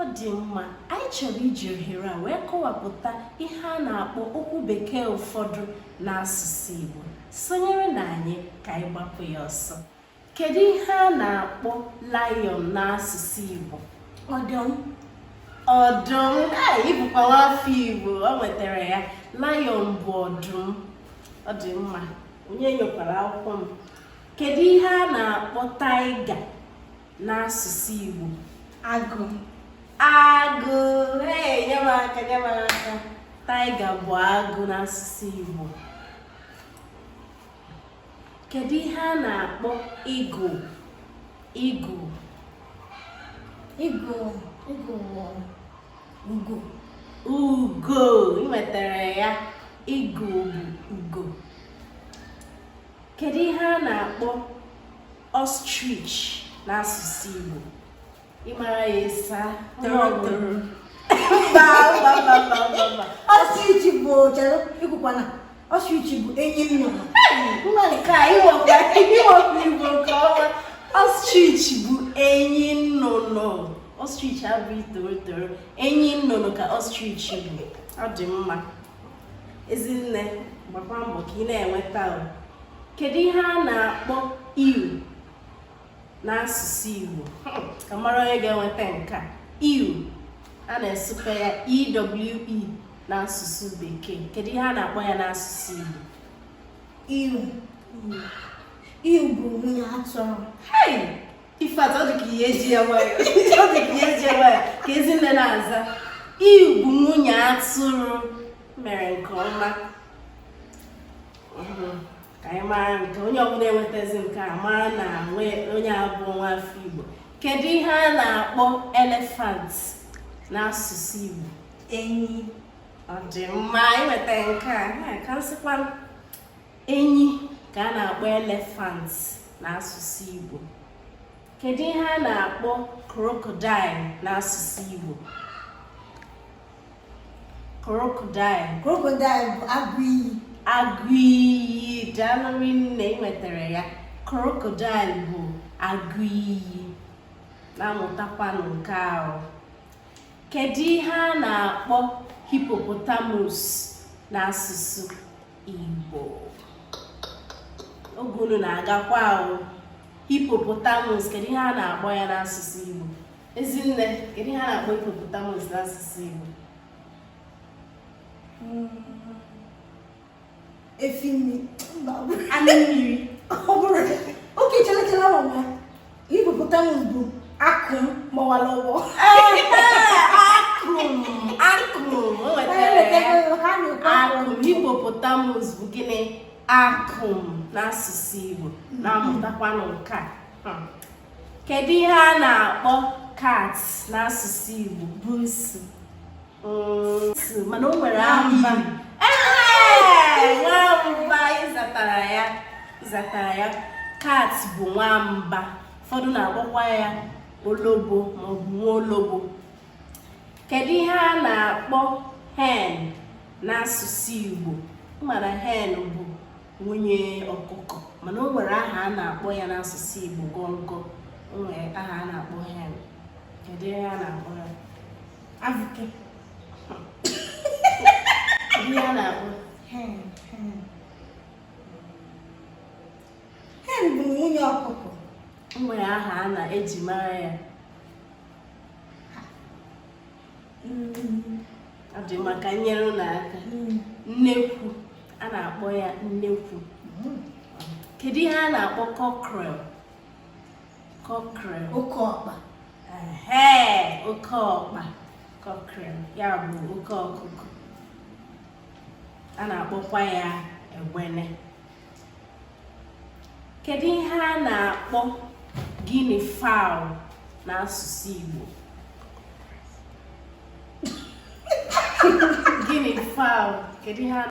ọ dị mma anyị chọrọ iji ohere a wee kọwapụta ihe a na-akpọ okwu bekee ụfọdụ n'asụsụ Igbo sonyere na anyị ka anyị gbapụ ya ọsọ kedu ihe a na-akpọ lion n'asụsụ Igbo ọdụm ọdụm ị bụkwa nwa afọ Igbo o nwetara ya lion bụ ọdụm ọ dị mma onye enyokwala akwụkwọ m kedu ihe a na-akpọ tiger n'asụsụ Igbo agụ agụ ee nye m aka nye m aka tiger bụ agụ n'asụsụ Igbo kedu ihe a na-akpọ eagle eagle eagle eagle ugo ugo i nwetara ya eagle bụ ugo kedu ihe a na-akpọ ostrich n'asụsụ Igbo ị mara ya ịsa torotoro mba ostrich bụ chere ekwukwana ostrich bụ enyi nnụnụ nwa nke a iwepụ Igbo nke ọma ostrich bụ enyi nnụnụ ostrich abụghị torotoro enyi nnụnụ ka ostrich bụ ọ dị mma ezinne gbakwa mbọ ka ị na-enweta o kedu ihe a na-akpọ ewe n'asụsụ Igbo hmm, ka m mara onye ga-enweta nke a ewe a na-asụpe ya EWE n'asụsụ bekee kedu ihe a na-akpọ ya n'asụsụ Igbo ewe ewe bụ nwunye atụrụ ifeatụ ọ dị ka ị ya-eji ya nwayọ ọ dị ka ị ya-eji ya nwayọ ka ezinne na-aza ewe bụ nwunye atụrụ mere nke ọma ka anyị mara nke onye ọbụla enwetazi nke a mara na onye abụ nwa afọ igbo kedu ihe a na-akpọ elephant n'asụsụ igbo enyi ọ dị mma i nweta nke a ka m sịkwa enyi ka a na-akpọ elephant n'asụsụ Igbo kedu ihe a na-akpọ crocodile n'asụsụ Igbo crocodile crocodile bụ agụ iyi agụ iyi daalụ rinne i nwetara ya crocodile bụ agụ iyi na-amụtakwanụ nke ahụ kedu ihe a na-akpọ hippopotamus n'asụsụ Igbo oge unu na-agakwa ahụ hippopotamus kedu ihe a na-akpọ ya n'asụsụ Igbo ezinne kedu ihe a na-akpọ hippopotamus n'asụsụ Igbo hmm. efi mmiri ọ bụrọ okay chere chere hippopotamus bụ akụm gbawara ụgbọ hippopotamus bụ gịnị akụm n'asụsụ Igbo na-amụtakwanụ nke a hmm. kedu ihe a na-akpọ cat n'asụsụ Igbo buusu mana o nwere amba nwamba ị zatara ya ị zatara ya cat bụ nwamba ụfọdụ na-akpọkwa ya olobo maọbụ nwa olobo kedu ihe a na-akpọ hen n'asụsụ Igbo mara hen bụ nwunye ọkụkọ mana o nwere aha a na-akpọ ya n'asụsụ Igbo gọngọ o nwere aha a na-akpọ hen kedu ihe a na-akpọ ya Avụke. Ihe a na-akpọ hen hen. Hen bụ nwunye ọkụkọ. O nwere aha a na-eji mara ya. Ọ dị mma ka m nyere unu aka. Nnekwu. A na-akpọ ya nnekwu. Kedu ihe a na-akpọ cockerel? cockerel oke ọkpa ee oke ọkpa cockerel ya bụ oke ọkụkọ a na-akpọkwa ya egbene kedu ihe a na-akpọ guinea fowl n'asụsụ Igbo guinea fowl kedu ihe a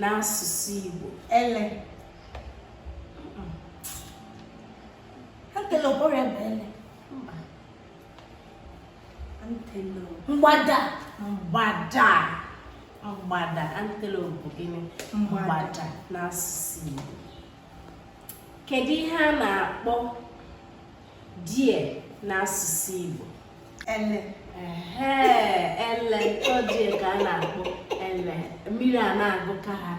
n'asụsụ Igbo ele antelope ya bụ ele mgbada mgbada mgbada antelope bụ gịnị mgbada n'asụsụ Igbo kedu ihe a na-akpọ deer n'asụsụ Igbo ele ele ọ deer ka a na-akpọ ele mmiri a na-agụka ha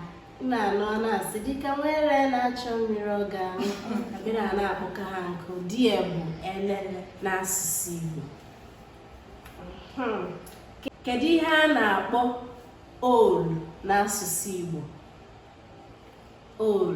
na-anụ a na-asị dịka nwa ele na-achọ mmiri ọ ga-aṅụ mmiri a na-akpọka ha nkụ deer bụ ele n'asụsụ Igbo hmm. kedu ihe a na-akpọ owl n'asụsụ Igbo owl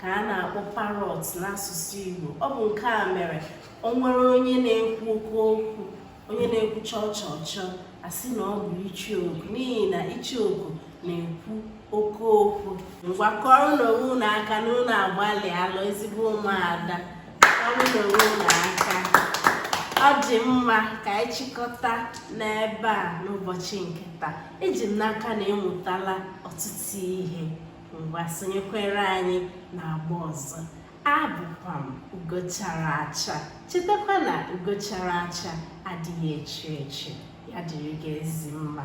ka a na-akpọ parrot n'asụsụ Igbo ọ bụ nke a mere o nwere onye na-ekwu oke okwu onye na-ekwu chọọ chọọ chọọ a sị na ọ bụ icheoku n'ihi na icheoku na-ekwu oke okwu ngwa kụọrọnụ onwe unu aka na unu agbalịala ezigbo ụmụada kụọrọnụ onwe unu aka ọ dị mma ka anyị chịkọta n'ebe a n'ụbọchị nke taa eji m n'aka na ị mụtala ọtụtụ ihe ngwa sonyekwere anyị n'agba ọzọ abụkwa m ugo chara acha chetakwa na ugo chara acha adịghị echu echu ya dịrị gị ezi mma